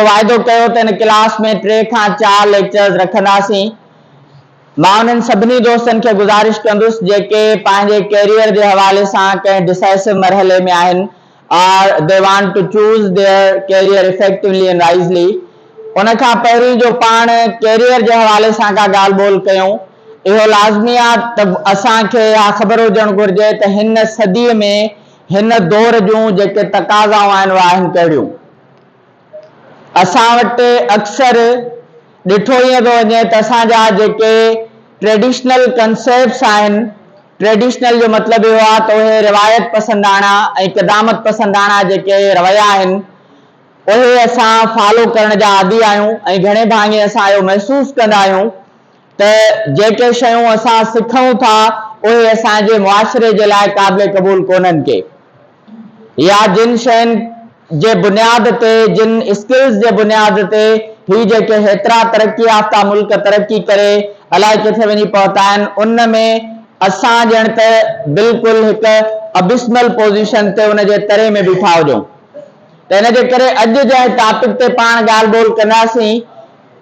واعدو ڪيو ته هن ڪلاس ۾ ٽي کان چار ليڪچرز رکنداسين. مان انهن سڀني دوستن کي گذارش ڪندس جيڪي پنهنجي ڪيريئر جي حوالي سان ڪنهن ڊسائسو مرحلي ۾ آهن or they want to choose their career effectively and wisely ان کان پهرين جو پاڻ ڪيريئر جي حوالي سان ڪا ڳالهه ٻولهه ڪيون اهو لازمي آهي ته اسان کي اها خبر هجڻ گهرجي ته هن صديء ۾ هن دور جون جيڪي تقاضائون آهن اهي آهن ڪهڙيون. اسان وٽ اڪثر ڏٺو ائين پيو وڃي ته اسان جا جيڪي ٽريڊيشنل ڪنسيپٽس آهن، ٽريڊيشنل جو مطلب اهو آهي ته اهي روايت پسنداڻا ۽ قدامت پسنداڻا جيڪي رويا آهن، اهي اسان فالو ڪرڻ جا عادي آهيون ۽ گهڻي ڀاڱي اسان اهو محسوس ڪندا آهيون ته جيڪي شيون اسان سکون ٿا، اهي اسان جي معاشري جي لاء قابل قبول ڪونهن ڪي. يا جن شين جي بنياد تي، جن اسڪلز جي بنياد تي هي جيڪي هيترا ترقي يافته ملڪ ترقي ڪري الاء ڪٿي وڃي پهتا آهن ان ۾ اسان ڄڻ ته بلڪل هڪ ابسمل پوزيشن تي ان جي تري ۾ بيٺا هجون ته ان جي ڪري اڄ جنهن ٽاپڪ تي پاڻ ڳالهه ٻولهه ڪنداسين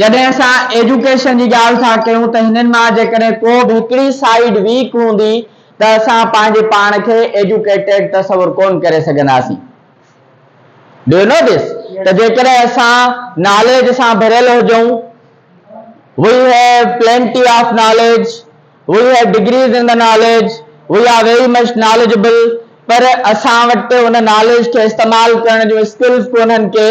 جڏهن اسان ايجوڪيشن جي ڳالهه ٿا ڪيون ته هنن مان جيڪڏهن ڪو به هڪڙي سائيڊ ويڪ هوندي ته اسان پنهنجي پاڻ کي ايجوڪيٽيڊ تصور ڪونه ڪري سگهنداسين. Do you know this? ته جيڪڏهن اسان ناليج سان ڀريل هجون، we have plenty of knowledge, we have degrees in the knowledge, we are very much knowledgeable پر اسان وٽ ان ناليج کي استعمال ڪرڻ جون اسڪلز ڪونهن ڪي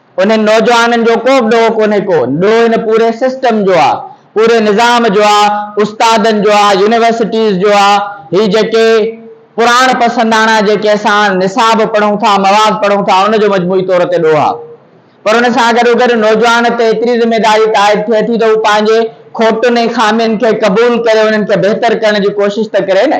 انهن نوجوانن جو ڪو به ڏوهه ڪونهي ڪو، ڏوهه هن پوري سسٽم جو آ، پوري نظام جو آ، استادن جو آ، يونيورسٽيز جو آ، هي جيڪي پراڻ پسنداڻا جيڪي اسان نصاب پڙهون ٿا، مواد پڙهون ٿا، ان جو مجموعي طور تي ڏوهه آ. پر ان سان گڏوگڏ نوجوان تي ايتري ذميداري تائيد ٿئي ٿي ته هو پنهنجي کوٽن ۽ خامين کي قبول ڪري انهن کي بهتر ڪرڻ جي ڪوشش ته ڪري نه.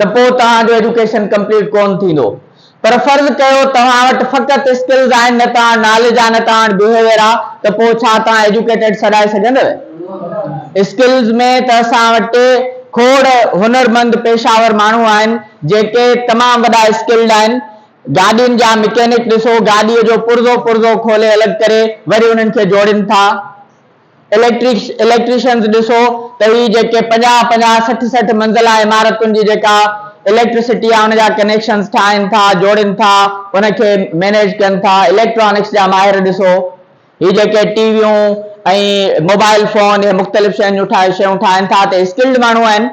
ته پوء توهان جو ايجوڪيشن ڪمپليٽ ڪون ٿيندو پر فرض ڪيو توهان وٽ فقط اسڪلز آهن نه توهان ناليج آ نه توهان وٽ بيهيويئر آ ته پوء ڇا توهان ايجوڪيٽيڊ سڏائي سگهندوء اسڪلز ۾ ته اسان وٽ ٽي کوڙ هنر مند پيشه ور ماڻهو آهن جيڪي تمام وڏا اسڪلڊ آهن گاڏين جا مڪينڪ ڏسو گاڏي جو پرزو پرزو کولي الڳ ڪري وري انهن کي جوڙين ٿا. اليڪٽرڪس، Electricians، ڏسو ته هي جيڪي پنجاهه پنجاهه سٺ سٺ منزلا عمارتن جي جيڪا اليڪٽرسٽي آ ان جا ڪنيڪشنز ٺاهن ٿا، جوڙين ٿا، ان کي مينيج ڪن ٿا، اليڪٽرانڪس جا ماهر ڏسو هي جيڪي ٽي ويون ۽ موبائل فون هي مختلف شين جون ٺاهي شيون ٺاهن ٿا ته هي اسڪلڊ ماڻهو آهن.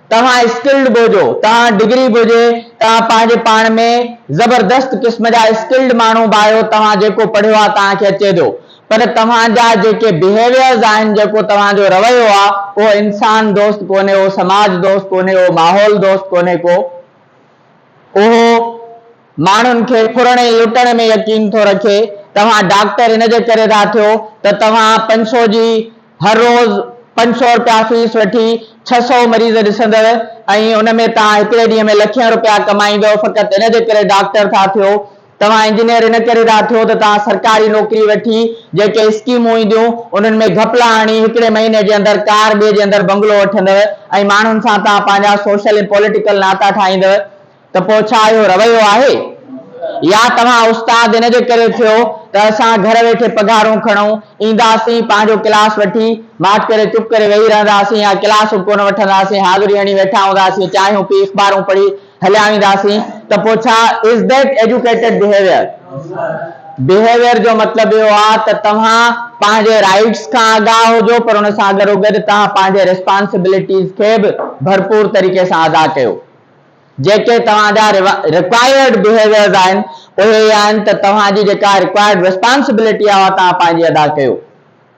توهان اسڪلڊ به هجو، توهان ڊگري به هجي، توهان پنهنجي پاڻ ۾ زبردست قسم جا اسڪلڊ ماڻهو به آهيو، توهان جيڪو پڙهيو آهي توهان کي اچي ٿو، پر توهان جا جيڪي بيهيويئرز آهن، جيڪو توهان جو رويو آهي، اهو انسان دوست ڪونهي، اهو سماج دوست ڪونهي، اهو ماحول دوست ڪونهي ڪو. اهو ماڻهن کي ڦرڻ ۽ لٽڻ ۾ يقين ٿو رکي. توهان ڊاڪٽر ان جي ڪري ٿا ٿيو ته توهان پنج سؤ جي هر روز پنج سؤ رپيا فيس وٺي ڇهه سؤ مريض ڏسندڙ ۽ ان ۾ توهان هڪڙي ڏينهن ۾ لکين رپيا ڪمائيندؤ فقط ان جي ڪري ڊاڪٽر ٿا ٿيو. توهان انجنيئر ان ڪري ٿا ٿيو ته توهان سرڪاري نوڪري وٺي جيڪي اسڪيمون اينديون انهن ۾ گهپلا هڻي هڪڙي مهيني جي اندر ڪار ٻئي جي اندر بنگلو وٺندؤ ۽ ماڻهن سان توهان پنهنجا سوشل ۽ پوليٽيڪل ناتا ٺاهيندؤ ته پوء ڇا اهو رويو آهي يا توهان استاد ان جي ڪري ٿيو ته اسان گهر ويٺي پگهارون کڻون اينداسين پنهنجو ڪلاس وٺي ماٺ ڪري چپ ڪري ويهي رهنداسين يا ڪلاسون ڪونه وٺنداسين حاضري هڻي ويٺا هونداسين چانهيون پي اخبارون پڙهي هليا وينداسين ته پوء ڇا Is that educated behavior؟ Behavior جو مطلب اهو آهي ته توهان پنهنجي رائيٽس کان آگاهه هجو پر ان سان گڏوگڏ توهان پنهنجي ريسپانسبلٽيز کي به ڀرپور طريقي سان ادا ڪيو. جيڪي توهان جا Required Behaviors آهن اهي هي آهن ته توهان جي جيڪا Required Responsibility آهي اها توهان پنهنجي ادا ڪيو.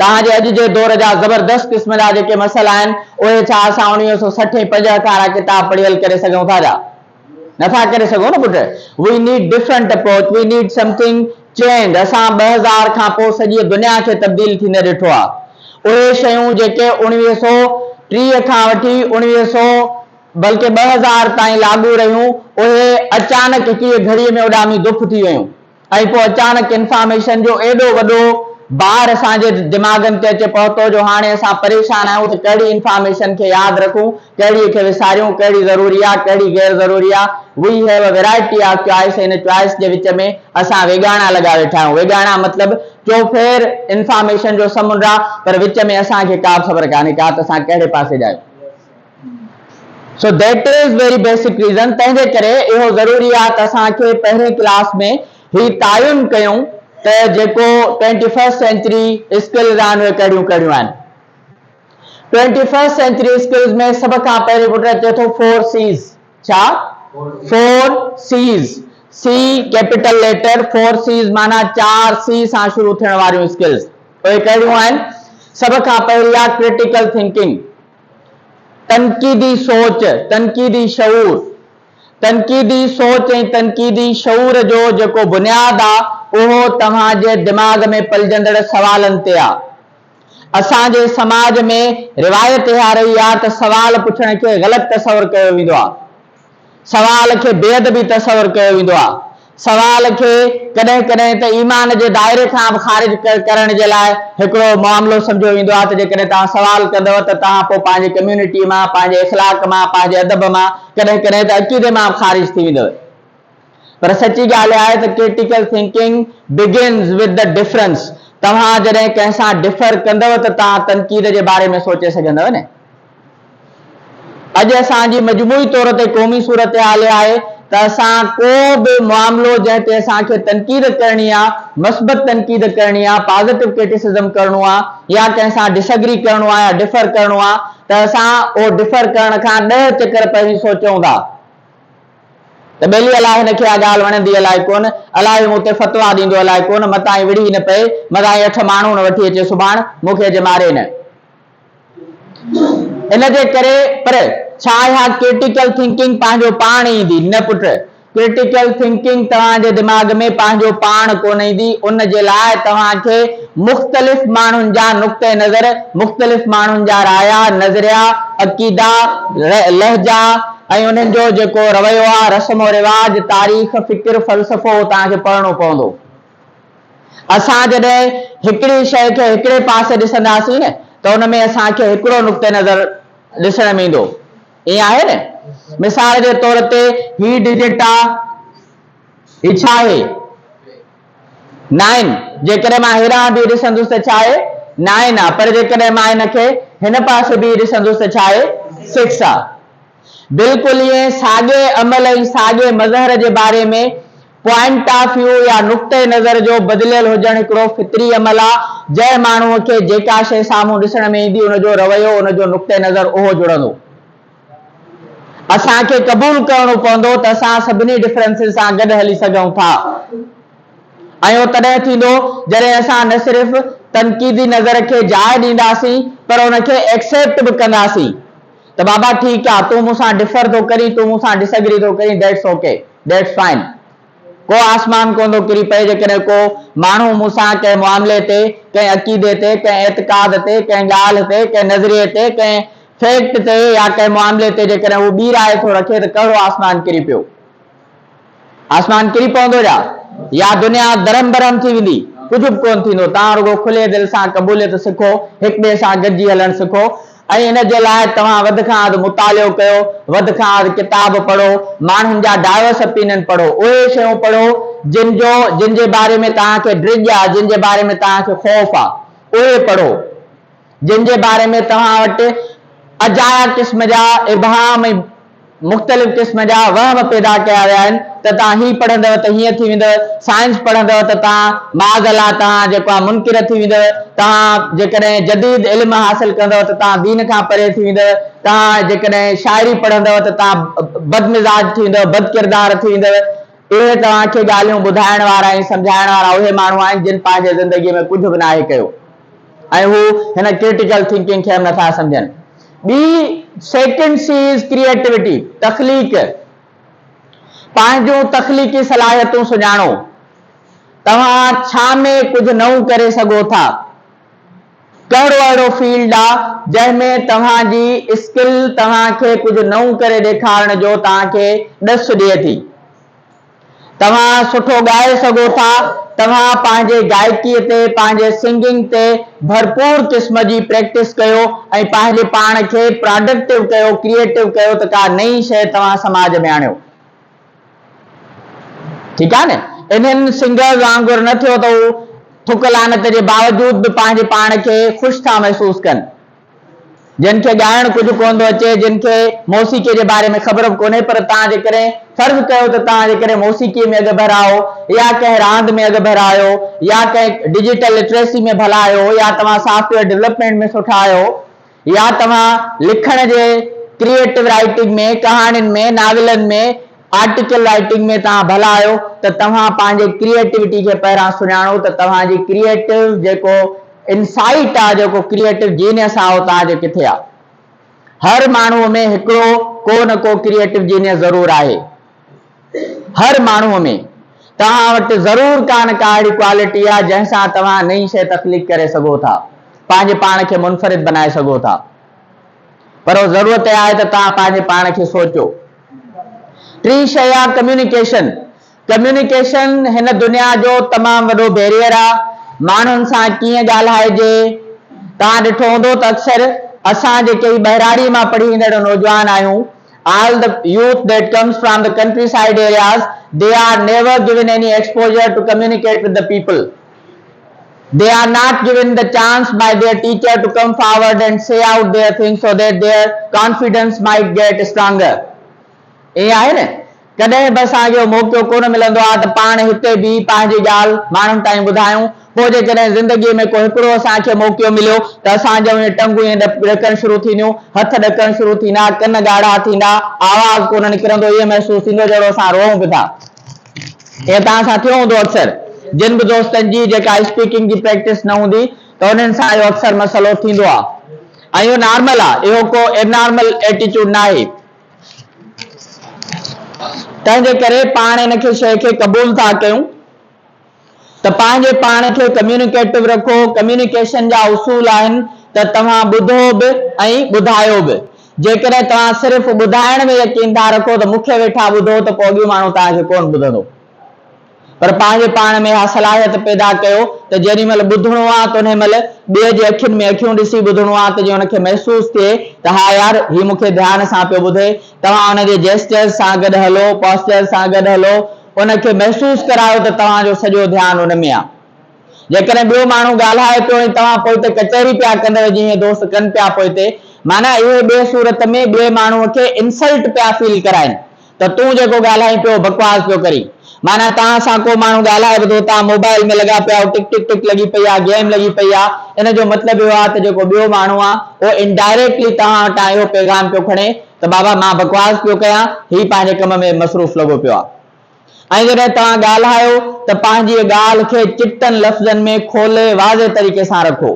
توهان جي اڄ جي دور جا زبردست قسم جا جيڪي مسئلا آهن، اهي ڇا اسان اڻويهه سؤ سٺ ۽ پنجهٺ وارا ڪتاب پڙهي حل ڪري سگهون ٿا جا؟ نه ٿا ڪري سگهون نه پٽ. We need different approach, we need something change. اسان ٻه هزار کان پوء سڄيء دنيا کي تبديل ٿيندي ڏٺو آهي. اهي شيون جيڪي اڻويهه سؤ ٽيهه کان وٺي اڻويهه سؤ بلڪه ٻه هزار تائين لاڳو رهيون، اهي اچانڪ هڪڙيء گهڙيء ۾ اڏامي دڦ ٿي ويون. ۽ پوء اچاڻڪ انفارميشن جو ايڏو وڏو بار اسان جي دماغن تي اچي پهتو جو هاڻي اسان پريشان آهيون ته ڪهڙي انفارميشن کي ياد رکون، ڪهڙيء کي وساريون، ڪهڙي ضروري آ، ڪهڙي غير ضروري آ. We have a variety of choice ان چوائس جي وچ ۾ اسان ويڳاڻا لڳا ويٺا آهيون. ويڳاڻا مطلب چوڦير انفارميشن جو سمنڊ آ پر وچ ۾ اسان کي ڪابه خبر ڪانهي ڪا ته اسان ڪهڙي پاسي جا آهيون. So that is very basic reason تنهن جي ڪري اهو ضروري آهي ته اسان کي پهرين ڪلاس ۾ هي تعين ڪيون ته جيڪو ٽوئنٽي فرسٽ سينچري اسڪلز آهن اهي ڪهڙيون ڪهڙيون آهن ٽوئنٽي فرسٽ سينچري اسڪلز ۾ سڀ کان پهرين پٽ اچي ٿو فور سيز ڇا four Cs C capital letter four Cs معنی چار سي سان شروع ٿيڻ واريون اسڪلز اهي ڪهڙيون آهن سڀ کان پهرين آهي ڪرٽيڪل ٿنڪنگ تنقيدي سوچ، تنقيدي شعور، تنقيدي سوچ ۽ تنقيدي شعور جو جيڪو بنياد آ اهو توهان جي دماغ ۾ پلجندڙ سوالن تي آ. اسان جي سماج ۾ روايت اها رهي آ ته سوال پڇڻ کي غلط تصور ڪيو ويندو آ. سوال کي بي ادبي تصور ڪيو ويندو آهي. سوال کي ڪڏهن ڪڏهن ته ايمان جي دائري کان به خارج ڪرڻ جي لاء هڪڙو معاملو سمجهيو ويندو آهي ته جيڪڏهن توهان سوال ڪندؤ ته توهان پوء پنهنجي ڪميونٽي مان، پنهنجي اخلاق مان، پنهنجي ادب مان، ڪڏهن ڪڏهن ته عقيدي مان به خارج ٿي ويندؤ. پر سچي ڳالهه اها آهي ته critical thinking begins with the difference. توهان جڏهن ڪنهن سان ڊفر ڪندؤ ته توهان تنقيد جي باري ۾ سوچي سگهندؤ نه. اڄ اسان جي مجموعي طور تي قومي صورتحال اها آهي ته اسان ڪو به معاملو جنهن تي اسان کي تنقيد ڪرڻي آهي، مثبت تنقيد ڪرڻي آهي، پازيٽو ڪرٽيسزم ڪرڻو آهي يا ڪنهن سان ڊس اگري ڪرڻو آهي يا ڊفر ڪرڻو آهي ته اسان اهو ڊفر ڪرڻ کان ڏهه چڪر پهرين سوچون ٿا ته ٻيلي الاء هن کي اها ڳالهه وڻندي الاء ڪونه، الاء هي مون تي فتوا ڏيندو الاء ڪونه، متان هي وڙهي نه پئي، متان هي اٺ ماڻهو نه وٺي اچي سڀاڻ مون کي اچي ماري نه. ان جي ڪري پر ڇا اها ڪرٽيڪل ٿنڪنگ پنهنجو پاڻ ايندي؟ نه پٽ، ڪرٽيڪل ٿنڪنگ توهان جي دماغ ۾ پنهنجو پاڻ ڪونه ايندي، ان جي لاء توهان کي مختلف ماڻهن جا نقطه نظر، مختلف ماڻهن جا رايا، نظريا، عقيدا، لهجا ۽ انهن جو جيڪو رويو آهي، رسم و رواج، تاريخ، فڪر، فلسفو توهان کي پڙهڻو پوندو. اسان جڏهن هڪڙي شيء کي هڪڙي پاسي ڏسنداسين نه ته ان ۾ اسان کي هڪڙو نقطه نظر ڏسڻ ۾ ايندو. ائين آهي نه؟ مثال جي طور تي هي ڊجٽ آ، هي ڇا آهي؟ نائن. جيڪڏهن مان هيڏانهن بيهي ڏسندس ته ڇا آهي؟ نائن آ. پر جيڪڏهن مان ان کي هن پاسي بيهي ڏسندس ته ڇا آهي؟ سڪس آ. بلڪل ائين ساڳئي عمل ۽ ساڳئي مظهر جي باري ۾ پوائنٽ آف ويو يا نقطه نظر جو بدليل هجڻ هڪڙو فطري عمل آ، جنهن ماڻهوء کي جيڪا شيء سامهون ڏسڻ ۾ ايندي ان جو رويو ان جو نقطه نظر اهو جڙندو. اسان کي قبول ڪرڻو پوندو ته اسان سڀني ڊفرنسز سان گڏ هلي سگهون ٿا ۽ اهو تڏهن ٿيندو جڏهن اسان نه صرف تنقيدي نظر کي جاء ڏينداسين پر ان کي ايڪسيپٽ به ڪنداسين ته بابا ٺيڪ آ، تون مون سان ڊفر ٿو ڪرين، تون مون سان ڊساگري ٿو ڪرين، ڊيٽس اوڪي، ڊيٽس فائن. ڪو آسمان ڪونه ٿو ڪري پئي، جيڪڏهن ڪو ماڻهو مون سان ڪنهن معاملي تي، ڪنهن عقيدي تي، ڪنهن اعتقاد تي، ڪنهن ڳالهه تي، ڪنهن نظريي تي، ڪنهن فيڪٽ تي يا ڪنهن معاملي تي جيڪڏهن هو ٻي راء ٿو رکي ته ڪهڙو آسمان ڪري پيو؟ آسمان ڪري پوندو جا يا دنيا درهم برهم ٿي ويندي ڪجهه به ڪون ٿيندو توهان رڳو کلي دل سان قبوليت سکو هڪ ٻئي سان گڏجي هلڻ سکو ۽ ان جي لاء توهان وڌ کان اڌ مطالعو ڪيو وڌ کان اڌ ڪتاب پڙهو ماڻهن جا ڊائوس اپينن پڙهو اهي شيون پڙهو جن جو جن جي باري ۾ توهان کي ڊڄ آ جن جي باري ۾ توهان کي خوف آ اهي پڙهو جن جي باري ۾ توهان وٽ اجايا قسم جا ابهام ۽ مختلف قسم جا وهم پيدا ڪيا ويا آهن ته توهان هي پڙهندؤ ته هيئن ٿي ويندؤ، سائنس پڙهندؤ ته توهان معاذ الله توهان جيڪو آهي منڪر ٿي ويندؤ، توهان جيڪڏهن جديد علم حاصل ڪندؤ ته توهان دين کان پري ٿي ويندؤ، توهان جيڪڏهن شاعري پڙهندؤ ته توهان بدمزاج ٿي ويندؤ، بدڪردار ٿي ويندؤ. اهي توهان کي ڳالهيون ٻڌائڻ وارا ۽ سمجهائڻ وارا اهي ماڻهو آهن جن پنهنجي زندگيء ۾ ڪجهه به ناهي ڪيو. ۽ هو هن ڪرٽيڪل ٿنڪنگ کي به نٿا سمجهن. ٻي سيڪنڊ سي از ڪريئيٽوٽي، تخليق. پنهنجون تخليقي صلاحيتون سڃاڻو. توهان ڇا ۾ ڪجهه نئون ڪري سگهو ٿا؟ ڪهڙو اهڙو فيلڊ آ جنهن ۾ توهان جي اسڪل توهان کي ڪجهه نئون ڪري ڏيکارڻ جو توهان کي ڏس ڏئي ٿي؟ توهان سٺو ڳائي سگهو ٿا، توهان پنهنجي گائڪي تي، پنهنجي سنگنگ تي ڀرپور قسم جي پريڪٽس ڪيو ۽ پنهنجي پاڻ کي پراڊڪٽو ڪيو، ڪريئيٽو ڪيو ته ڪا نئين شيء توهان سماج ۾ آڻيو. ٺيڪ آهي نه؟ انهن سنگرز وانگر نه ٿيو ته هو ٿڪ لعنت جي باوجود به پنهنجي پاڻ کي خوش ٿا محسوس ڪن. جن کي ڳائڻ ڪجهه ڪونه ٿو اچي، جن کي موسيقيء جي باري ۾ خبر به ڪونهي، پر توهان جيڪڏهن فرض ڪيو ته توهان جيڪڏهن موسيقيء ۾ اڳڀرا آهيو يا ڪنهن راند ۾ اڳڀرا آهيو يا ڪنهن ڊجيٽل لٽريسي ۾ ڀلا آهيو يا توهان سافٽويئر ڊولپمينٽ ۾ سٺا آهيو يا توهان لکڻ جي ڪريئيٽو رائيٽنگ ۾ ڪهاڻين ۾ ناولن ۾ آرٽيڪل رائيٽنگ ۾ توهان ڀلا آهيو ته توهان پنهنجي ڪريئيٽوٽي کي پهريان سڃاڻو ته توهان جي ڪريئيٽو جيڪو انسائيٽ آهي جيڪو ڪريئيٽو جينيس آهي اهو توهان جي ڪٿي آهي هر ماڻهو ۾ هڪڙو ڪو نه ڪو ڪريئيٽو جينيس ضرور آهي هر ماڻهو ۾ توهان وٽ ضرور ڪا نه ڪا اهڙي ڪوالٽي آهي جنهن سان توهان نئين شئي تخليق ڪري سگهو ٿا پنهنجي پاڻ کي منفرد بنائي سگهو ٿا پر ضرورت اها آهي ته توهان پنهنجي پاڻ کي سوچو. ٽين شيء آ ڪميونيڪيشن، ڪميونيڪيشن هن دنيا جو تمام وڏو بيريئر آ، ماڻهن سان ڪيئن ڳالهائجي، توهان ڏٺو هوندو ته اڪثر اسان جيڪي هي ٻهراڙي مان پڙهي ايندڙ نوجوان آهيون، all the youth that comes from the countryside areas they are never given any exposure to communicate with the people, They are not given the chance by their teacher to come forward and say out their things so that their confidence might get stronger. ائين آهي نه؟ ڪڏهن به اسان کي اهو موقعو ڪونه ملندو آهي ته پاڻ هتي بيهي پنهنجي ڳالهه ماڻهن تائين ٻڌايون. پوء جيڪڏهن زندگيء ۾ ڪو هڪڙو اسان کي موقعو مليو ته اسان جون اهي ٽنگون ائين ڏڪڻ شروع ٿينديون، هٿ ڏڪڻ شروع ٿيندا، ڪن ڳاڙها ٿيندا، آواز ڪونه نڪرندو، ائين محسوس ٿيندو ڄڻو اسان روئون به ٿا. ائين توهان سان ٿيو هوندو اڪثر. جن به دوستن جي جيڪا اسپيڪنگ جي پريڪٽس نه هوندي ته انهن سان اهو اڪثر مسئلو ٿيندو آهي ۽ اهو نارمل آهي اهو ڪو ابنارمل ايٽيچوڊ ناهي تنهن جي ڪري پاڻ ان کي شيء کي قبول ٿا ڪيون ته پنهنجي پاڻ کي ڪميونيڪيٽو رکو، ڪميونيڪيشن جا اصول آهن ته توهان ٻڌو به ۽ ٻڌايو به. جيڪڏهن توهان صرف ٻڌائڻ ۾ يقين ٿا رکو ته مون کي ويٺا ٻڌو ته پوء اڳيون ماڻهو توهان کي ڪونه ٻڌندو. پر پنهنجي پاڻ ۾ اها صلاحيت پيدا ڪيو ته جيڏي مهل ٻڌڻو آ ته انهي مهل ٻئي جي اکين ۾ اکيون ڏسي ٻڌڻو آ ته جيئن ان کي محسوس ٿئي ته ها يار هي مون کي ڌيان سان پيو ٻڌي. توهان ان جي جيسچرز سان گڏ هلو، پاسچرز سان گڏ هلو. ان کي محسوس ڪرايو ته توهان جو سڄو ڌيان ان ۾ آهي. جيڪڏهن ٻيو ماڻهو ڳالهائي پيو ۽ توهان پوئتي ڪچهري پيا ڪندڙ جيئن دوست ڪن پيا پوئتي معنيٰ اهي ٻئي صورت ۾ ٻئي ماڻهو کي انسلٽ پيا فيل ڪرائين ته تون جيڪو ڳالهائين پيو بڪواس پيو ڪرين معنيٰ توهان سان ڪو ماڻهو ڳالهائي به ٿو توهان موبائل ۾ لڳا پيا آهيو ٽڪ ٽڪ ٽڪ لڳي پئي آهي گيم لڳي پئي آهي ان جو مطلب اهو آهي ته جيڪو ٻيو ماڻهو آهي اهو انڊائريڪٽلي توهان وٽان اهو پيغام پيو کڻي ته بابا مان بڪواس پيو ڪيان، هي پنهنجي ڪم ۾ مصروف لڳو پيو آ. ۽ جڏهن توهان ڳالهايو ته پنهنجيء ڳالهه کي چٽن لفظن ۾ کولي واضح طريقي سان رکو.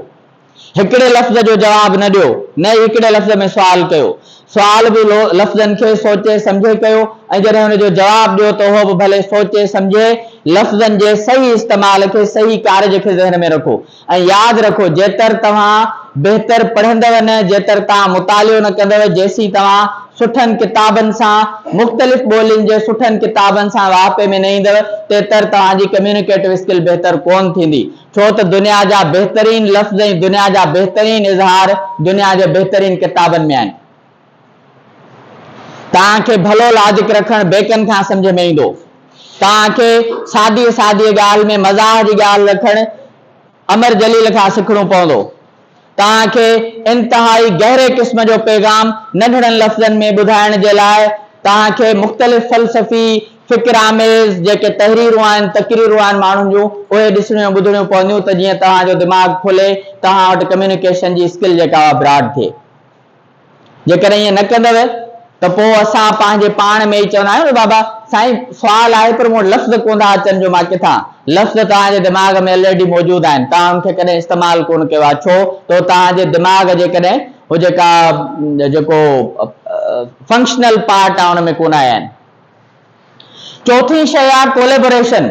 هڪڙي لفظ جو جواب نه ڏيو، نه ئي هڪڙي لفظ ۾ سوال ڪيو. سوال به لفظن کي سوچي سمجهي ڪيو ۽ جڏهن ان جو جواب ڏيو ته اهو به ڀلي سوچي سمجهي لفظن جي صحيح استعمال کي صحيح ڪارج کي ذهن ۾ رکو. ۽ ياد رکو جيتر توهان بهتر پڙهندؤ نه جيتر توهان مطالعو نه ڪندؤ جيسين توهان سٺن ڪتابن سان مختلف ٻولين جي سٺن ڪتابن سان واهپي ۾ نه ايندؤ تيتر توهان جي ڪميونيڪيٽو اسڪل بهتر ڪون ٿيندي ڇو ته دنيا جا بهترين لفظ ۽ دنيا جا بهترين اظهار دنيا جي بهترين ڪتابن ۾ آهن. توهان کي ڀلو لاجڪ رکڻ بيڪن کان سمجهه ۾ ايندو. توهان کي سادي سادي ڳالهه ۾ مزاح جي ڳالهه رکڻ امر جليل کان سکڻو پوندو. توهان کي انتهائي گهري قسم جو پيغام ننڍڙن لفظن ۾ ٻڌائڻ جي لاء توهان کي مختلف فلسفي، فڪر آميز جيڪي تحريرون آهن، تقريرون آهن ماڻهن جون اهي ڏسڻيون ٻڌڻيون پونديون ته جيئن توهان جو دماغ کلي توهان وٽ ڪميونيڪيشن جي اسڪل جيڪا اها براڊ ٿئي. جيڪڏهن ائين نه ڪندؤ ته پوء اسان پنهنجي پاڻ ۾ ئي چوندا آهيون نه بابا سائين سوال آهي پر مون وٽ لفظ ڪونه ٿا اچن جو مان ڪٿان لفظ توهان جي دماغ ۾ الريڊي موجود آهن توهان ان کي ڪڏهن استعمال ڪونه ڪيو آهي ڇو تو توهان جي دماغ جي ڪڏهن هو جيڪا جيڪو فنڪشنل پارٽ آهي ان ۾ ڪونه آيا آهن چوٿين شيء آهي ڪوليبوريشن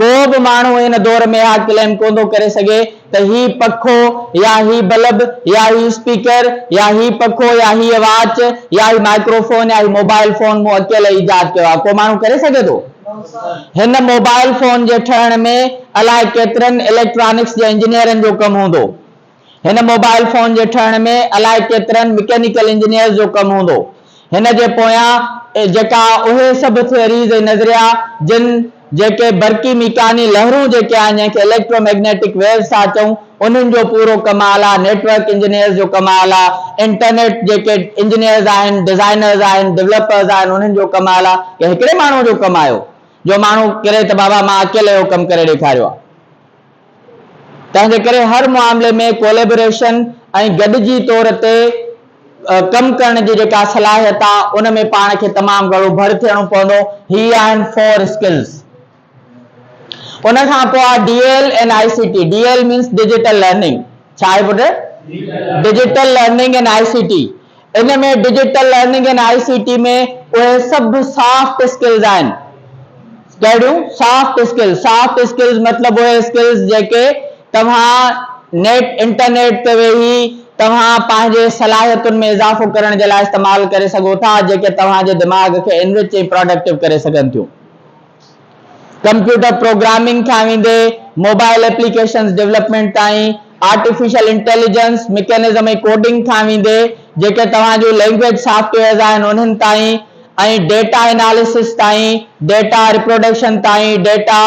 ڪو به ماڻهو ان دور ۾ اها ڪليم ڪو ٿو ڪري سگهي ته هي پکو يا هي بلب يا هي اسپيڪر يا هي پکو يا هيء واچ يا هي مائڪرو فون يا هي موبائل فون مون اڪيلي ايجاد ڪيو آهي ڪو ماڻهو ڪري سگهي ٿو؟ هن موبائل فون جي ٺهڻ ۾ الائي ڪيترن اليڪٽرانڪس جي انجنيئرن جو ڪم هوندو. هن موبائل فون جي ٺهڻ ۾ الائي ڪيترن مڪينيڪل انجنيئرز جو ڪم هوندو. هن جي پويان جيڪا اهي سڀ ٿيوريز ۽ نظريا جن جيڪي برقي ميڪاني لهرون جيڪي آهن جنهن کي اليڪٽرو ميگنيٽڪ ويوز ٿا چئون انهن جو پورو ڪم اعليٰ نيٽورڪ انجنيئرز جو ڪم اعليٰ انٽرنيٽ جيڪي انجنيئرز آهن ڊزائنرز آهن ڊولپرز آهن انهن جو ڪم اعليٰ ڪنهن هڪڙي ماڻهو جو ڪم آهيو جو ماڻهو ڪري ته بابا مان اڪيلي اهو ڪم ڪري ڏيکاريو آهي. تنهن جي ڪري هر معاملي ۾ ڪوليبريشن ۽ گڏجي طور تي ڪم ڪرڻ جي جيڪا صلاحيت آهي ان ۾ پاڻ کي تمام گهڻو ڀڙ ٿيڻو پوندو. هي آهن فور اسڪلز. ان کان پوء آهي D L and I C T. D L means digital learning. ڇا آهي پٽ؟ Digital learning and I C T ان ۾ digital learning and I C T ۾ اهي سڀ سافٽ اسڪلز آهن ڪهڙيون سافٽ اسڪلز سافٽ اسڪلز مطلب اهي اسڪلز جيڪي توهان نيٽ انٽرنيٽ تي ويهي توهان پنهنجي صلاحيتن ۾ اضافو ڪرڻ جي لاء استعمال ڪري سگهو ٿا جيڪي توهان جي دماغ کي انرچ ۽ پراڊڪٽو ڪري سگهن ٿيون. ڪمپيوٽر پروگرامنگ کان ويندي موبائل ايپليڪيشنز ڊولپمينٽ تائين، آرٽيفيشل انٽيليجنس، مڪينزم ۽ ڪوڊنگ کان ويندي جيڪي توهان جون لينگويج سافٽ ويئرز آهن انهن تائين ۽ ڊيٽا اناليسس تائين، ڊيٽا ريپروڊڪشن تائين، ڊيٽا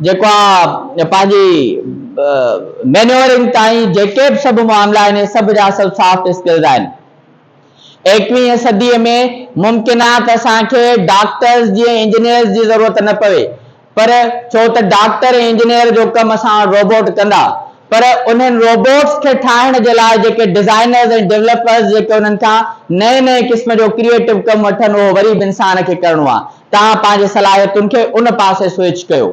جيڪو آ پنهنجي مينيورنگ تائين جيڪي به سڀ معاملا آهن اهي سڀ جا سڀ سافٽ اسڪلز آهن. ايڪويهين صديء ۾ ممڪن آهي ته اسان کي ڊاڪٽرز جيئن انجنيئرز جي ضرورت نه پوي، پر ڇو ته ڊاڪٽر ۽ انجنيئر جو ڪم اسان وٽ روبوٽ ڪندا، پر انهن روبوٽس کي ٺاهڻ جي لاء جيڪي ڊزائنرز ۽ ڊولپرز جيڪي انهن کان نئين نئين قسم جو ڪريئيٽو ڪم وٺن اهو وري به انسان کي ڪرڻو آهي، توهان پنهنجي صلاحيتن کي ان پاسي سوئچ ڪيو.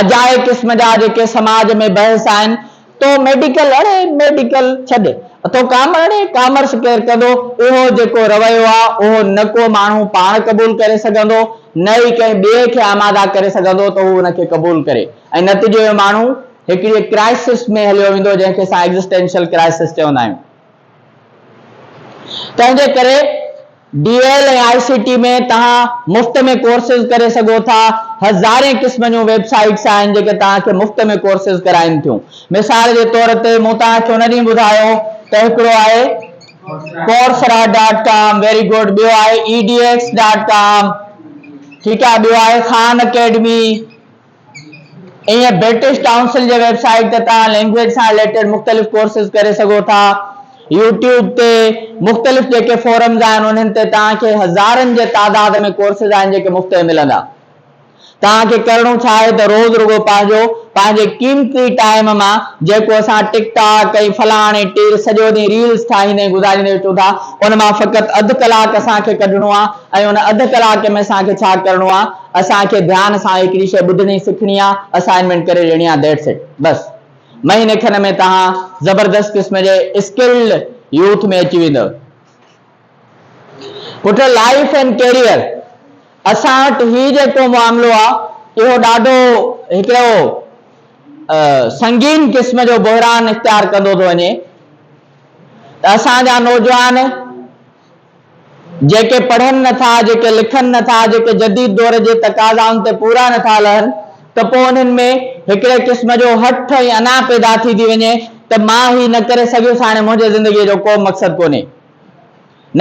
اجائي قسم جا جيڪي سماج ۾ بحث آهن، تو ميڊيڪل اڙي ميڊيڪل ڇڏ، تو ڪامر اڙي ڪامرس ڪير ڪندو، اهو جيڪو رويو آ، اهو نه ڪو ماڻهو پاڻ قبول ڪري سگهندو، نه ئي ڪنهن ٻئي کي آماده ڪري سگهندو ته هو ان کي قبول ڪري ۽ نتيجي ۾ ماڻهو هڪڙيء ڪرائسس ۾ هليو ويندو، جنهن کي اسان ايگزسٽينشل ڪرائسس چوندا آهيون. تنهن جي ڪري D L ۽ I C T ۾ توهان مفت ۾ ڪورسز ڪري سگهو ٿا. هزارين قسم جون ويب سائيٽس آهن جيڪي توهان کي مفت ۾ ڪورسز ڪرائين ٿيون. مثال جي طور تي مون توهان کي ان ڏينهن ٻڌايو ته هڪڙو آهي Coursera dot com very good ٻيو آهي E D X dot com ٺيڪ آهي ٻيو آهي خان اڪيڊمي ائين برٽش ڪائونسل جي ويب سائيٽ تي توهان لينگويج سان رليٽيڊ مختلف ڪورسز ڪري سگهو ٿا. يوٽيوب تي مختلف جيڪي فورمز آهن انهن تي توهان کي هزارن جي تعداد ۾ ڪورسز آهن جيڪي مفت ۾ ملندا. توهان کي ڪرڻو ڇا آهي ته روز رڳو پنهنجو پنهنجي قيمتي ٽائيم مان جيڪو اسان ٽڪ ٽاڪ ۽ فلاڻ ۽ ٽيل سڄو ڏينهن ريلز ٺاهيندي ۽ گذاريندي اچون ٿا ان مان فقط اڌ ڪلاڪ اسان کي ڪڍڻو آهي ۽ ان اڌ ڪلاڪ ۾ اسان کي ڇا ڪرڻو آ اسان کي ڌيان سان هڪڙي شئي ٻڌڻي سکڻي آ اسائنمينٽ ڪري ڏيڻي آ That's it بس مهيني کن ۾ توهان زبردست قسم جي Skilled Youth ۾ اچي ويندؤ پٽ Life and Career اسان وٽ هي جيڪو معاملو آ اهو ڏاڍو هڪڙو سنگين قسم جو بحران اختيار ڪندو ٿو وڃي ته اسان جا نوجوان جيڪي پڙهن نه ٿا، جيڪي لکن نه ٿا، جيڪي جديد دور جي تقاضائن تي پورا نه ٿا لهن ته پوء انهن ۾ هڪڙي قسم جو هٺ ۽ انا پيدا ٿي ٿي وڃي ته مان هي نه ڪري سگهيس هاڻي منهنجي زندگيء جو ڪو مقصد ڪونهي.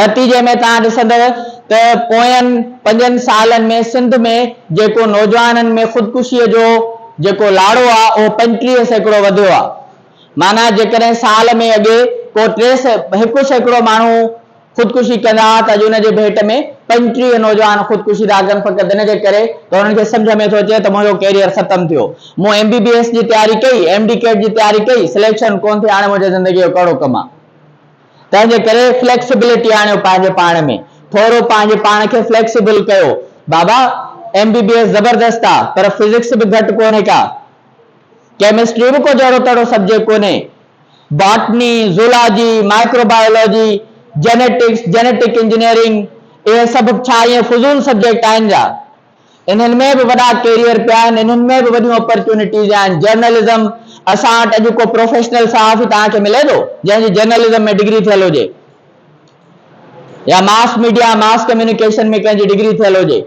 نتيجي ۾ توهان ڏسندؤ ته پوين پنجن سالن ۾ سنڌ ۾ جيڪو نوجوانن ۾ خودڪشيء جو جيڪو لاڙو آ اهو پنجٽيهه سيڪڙو وڌيو آ. معنيٰ جيڪڏهن سال ۾ اڳي ڪو ٽي سئي هڪ سيڪڙو ماڻهو خودڪشي ڪندا ها ته اڄ ان جي ڀيٽ ۾ پنجٽيهه نوجوان خودڪشي ٿا ڪن فقط ان جي ڪري ته انهن کي سمجهه ۾ ٿو اچي ته منهنجو ڪيريئر ختم ٿيو مون ايم بي بي ايس جي تياري ڪئي ايم ڊي ڪيٽ جي تياري ڪئي سليڪشن ڪونه ٿي هاڻي منهنجي زندگي جو ڪهڙو ڪم آهي تنهن جي ڪري فليڪسبلٽي آڻيو پنهنجي پاڻ ۾ ٿورو پنهنجي پاڻ کي فليڪسبل ڪيو بابا ايم بي بي ايس زبردست آهي پر فزڪس به گهٽ ڪونهي ڪا ڪيمسٽري به ڪو جهڙو تهڙو سبجيڪٽ ڪونهي. Botany, zoology, microbiology, genetics, genetic engineering, اهي سڀ به ڇا ائين فضول سبجيڪٽ آهن جا؟ انهن ۾ به وڏا ڪيريئر پيا آهن، انهن ۾ به وڏيون اپرچونٽيز آهن. جرنلزم، اسان وٽ اڄ ڪو پروفيشنل صحافي توهان کي ملي ٿو، جنهن جي جرنلزم ۾ ڊگري ٿيل هجي يا ماس ميڊيا، ماس ڪميونيڪيشن ۾ ڪنهن جي ڊگري ٿيل هجي؟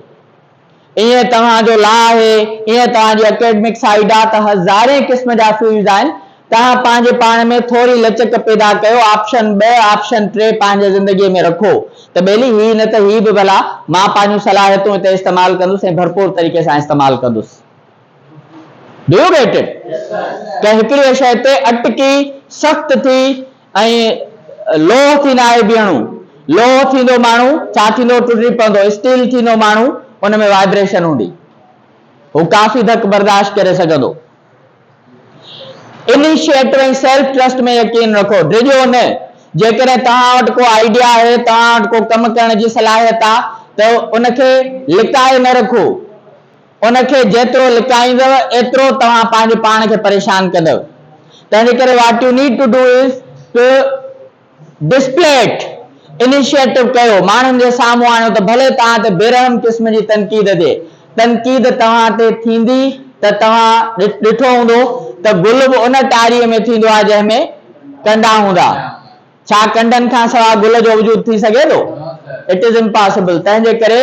ائين توهان جو لا آهي، ائين توهان جي اڪيڊمڪ سائيڊ آ ته هزارين قسم جا فيلڊز آهن، توهان پنهنجي پاڻ ۾ ٿوري لچڪ پيدا ڪيو، آپشن ٻه، آپشن ٽي پنهنجي زندگي ۾ رکو ته ٻيلي هي نه ته هي به ڀلا، مان پنهنجون صلاحيتون هتي استعمال ڪندس ۽ ڀرپور طريقي سان استعمال ڪندس. Do you get it؟ ڪنهن هڪڙيء شيء تي اٽڪي، سخت ٿي، ائين لوهه ٿي ناهي بيهڻو. لوهه ٿيندو ماڻهو ڇا ٿيندو ٽڙي پوندو اسٽيل ٿيندو ماڻهو ان ۾ وائبريشن هوندي هو ڪافي ڌڪ برداشت ڪري سگهندو. انيشيئيٽو ۽ سيلف ٽرسٽ ۾ يقين رکو ڊڄو نه جيڪڏهن توهان وٽ ڪو آئيڊيا آهي توهان وٽ ڪو ڪم ڪرڻ جي صلاحيت آ ته ان کي لڪائي نه رکو. ان کي جيترو لڪائيندؤ، ايترو توهان پنهنجي پاڻ کي پريشان ڪندؤ. تنهنجي ڪري what you need to do is to display it. Initiative ڪيو، ماڻهن جي سامهون آڻيو ته ڀلي توهان تي بيرحم قسم جي تنقيد جي تنقيد توهان تي ٿيندي ته توهان ڏٺو هوندو ته گل به ان ٽاريء ۾ ٿيندو آهي جنهن ۾ ڪنڊا هوندا. ڇا ڪنڊن کان سواء گل جو وجود ٿي سگهي ٿو؟ It is impossible. تنهن جي ڪري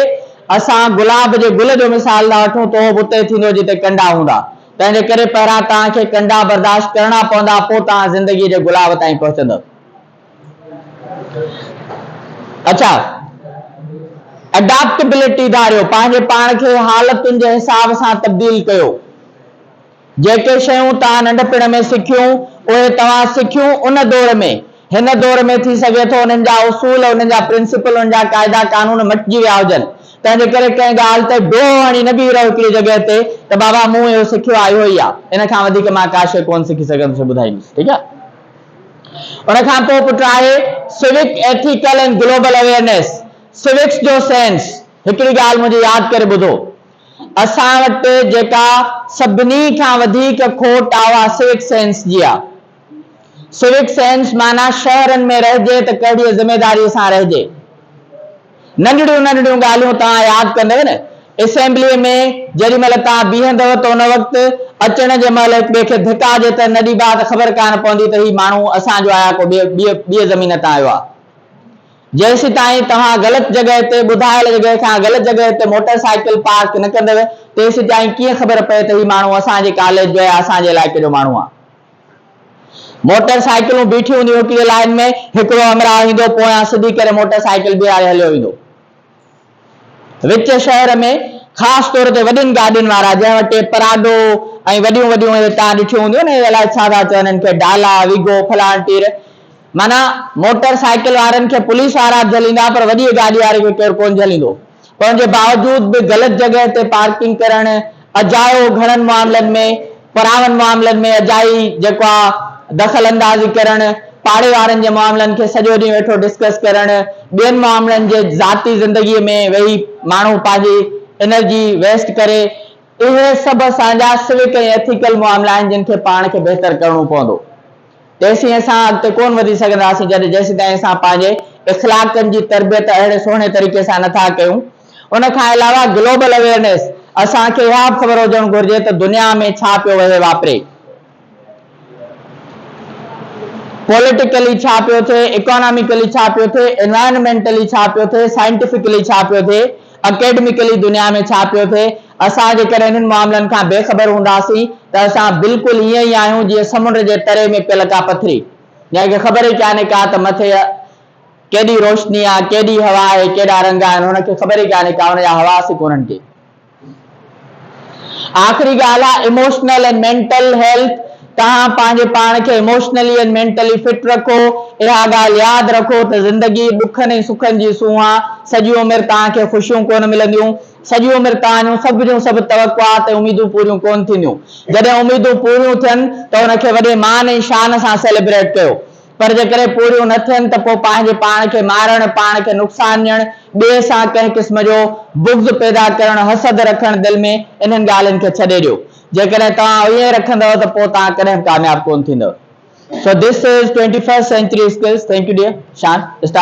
اسان گلاب جي گل جو مثال ٿا وٺون ته اهو به اتي ئي ٿيندو جتي ڪنڊا هوندا. تنهن جي ڪري پهريان توهان کي ڪنڊا برداشت ڪرڻا پوندا پوء توهان زندگيء جي گلاب تائين پهچندؤ. اڇا Adaptability ڌاريو، پنهنجي پاڻ کي حالتن جي حساب سان تبديل ڪيو. جيڪي شيون توهان ننڍپڻ ۾ سکيون، اهي توهان سکيون ان دور ۾، هن دور ۾ ٿي سگهي ٿو انهن جا اصول، انهن جا پرنسپل، انهن جا قاعدا قانون مٽجي ويا هجن، تنهن جي ڪري ڪنهن ڳالهه تي ڊوهه هڻي نه بيهي رهو هڪڙي جڳهه تي ته بابا مون اهو سکيو آهي اهو ئي آهي، ان کان وڌيڪ مان ڪا شيء ڪونه سکي سگهندس سو ٻڌائيندس ٺيڪ آهي. ان کان پوء پٽ آهي civic ethical and global awareness, civics جو سينس، هڪڙي ڳالهه منهنجي ياد ڪري ٻڌو، اسان وٽ جيڪا سڀني کان وڌيڪ کوٽ آ اها سوڪ سينس جي آ. سوڪ سينس معنيٰ شهرن ۾ رهجي ته ڪهڙيء ذميداريء سان رهجي. ننڍڙيون ننڍڙيون ڳالهيون توهان ياد ڪندؤ نه اسيمبليء ۾ جيڏي مهل توهان بيهندؤ ته ان وقت اچڻ جي مهل هڪ ٻئي کي ڌڪا جي ته نه ڏيبا ته خبر ڪانه پوندي ته هي ماڻهو اسان جو آ يا ڪو ٻيء زمين تان آيو آ. جيسيتائين توهان غلط جڳهه تي ٻڌايل جڳهه کان غلط جڳهه تي موٽر سائيڪل پارڪ نه ڪندو تيسيتائين ڪيئن خبر پئي ته هي ماڻهو اسان جي ڪاليج جو يا اسان جي علائقي جو ماڻهو آهي. موٽر سائيڪلون بيٺيون هونديون هڪ جي لائين ۾، هڪڙو همراهه ايندو پويان سڌي ڪري موٽر سائيڪل بيهاري هليو ويندو. وچ شهر ۾ خاص طور تي وڏين گاڏين وارا جنهن وٽ ٽي پراڊو ۽ وڏيون وڏيون اهي تان ڏٺيون هونديون نه اهي الائي ڇا ٿا چون هن کي ڊالا ويگو فلان ٽير معنيٰ موٽر سائيڪل وارن کي پوليس وارا به جهليندا پر وڏيء گاڏي واري کي ڪير ڪونه جهليندو پر ان جي باوجود به غلط جڳهه تي پارڪنگ ڪرڻ اجايو گهڻن معاملن ۾ پراون معاملن ۾ اجائي جيڪو آ دخل اندازي ڪرڻ، پاڙي وارن جي معاملن کي سڄو ڏينهن ويٺو ڊسڪس ڪرڻ، ٻين معاملن جي ذاتي زندگي ۾ ويهي ماڻهو پنهنجي انرجي ويسٽ ڪري، اهي سڀ اسان جا سوڪ ۽ ايٿيڪل معاملا آهن جن کي پاڻ کي بهتر ڪرڻو پوندو. تيسين اسان اڳتي ڪونه وڌي سگهنداسين جڏهن جيسيتائين اسان پنهنجي اخلاقن جي تربيت اهڙي سهڻي طريقي سان نه ٿا ڪيون. ان کان علاوه گلوبل اويئرنيس، اسان کي اها به خبر هجڻ گهرجي ته دنيا ۾ ڇا پيو وهي واپري، پوليٽيڪلي ڇا پيو ٿئي، اڪاناميڪلي ڇا پيو ٿئي، انوائرنمينٽلي ڇا پيو ٿئي، سائنٽيفڪلي ڇا پيو ٿئي، اڪيڊميڪلي دنيا ۾ ڇا پيو ٿئي، اسان جيڪڏهن انهن معاملن کان بي خبر هونداسين ته اسان بلڪل ائين ئي آهيون جيئن سمنڊ جي تري ۾ پيل ڪا پٿري جنهن کي خبر ئي ڪانهي ڪا ته مٿي ڪيڏي روشني آهي ڪيڏي هوا آهي ڪيڏا رنگ آهن هن کي خبر ئي ڪانهي ڪا هن جا حواس ئي ڪونهن ڪي. آخري ڳالهه آهي ايموشنل ۽ مينٽل هيلٿ توهان پنهنجي پاڻ کي ايموشنلي ۽ مينٽلي فٽ رکو اها ڳالهه ياد رکو ته زندگي ڏکن ۽ سکن جي سونهن آهي سڄي عمر توهان کي خوشيون ڪونه ملنديون سڄي عمر ڪهاڻيون سڀ جون سڀ توقعات ۽ اميدون پوريون ڪونه ٿينديون. جڏهن اميدون پوريون ٿين ته ان کي وڏي مان ۽ شان سان سيليبريٽ ڪيو. پر جيڪڏهن پوريون نه ٿين ته پوء پنهنجي پاڻ کي مارڻ، پاڻ کي نقصان ڏيڻ، ٻئي سان ڪنهن قسم جو بغض پيدا ڪرڻ، حسد رکڻ دل ۾ انهن ڳالهين کي ڇڏي ڏيو. جيڪڏهن توهان ائين رکندؤ ته پوء توهان ڪڏهن به ڪامياب ڪونه ٿيندؤ. So this is twenty first century skills. Thank you dear. Shaan. Star.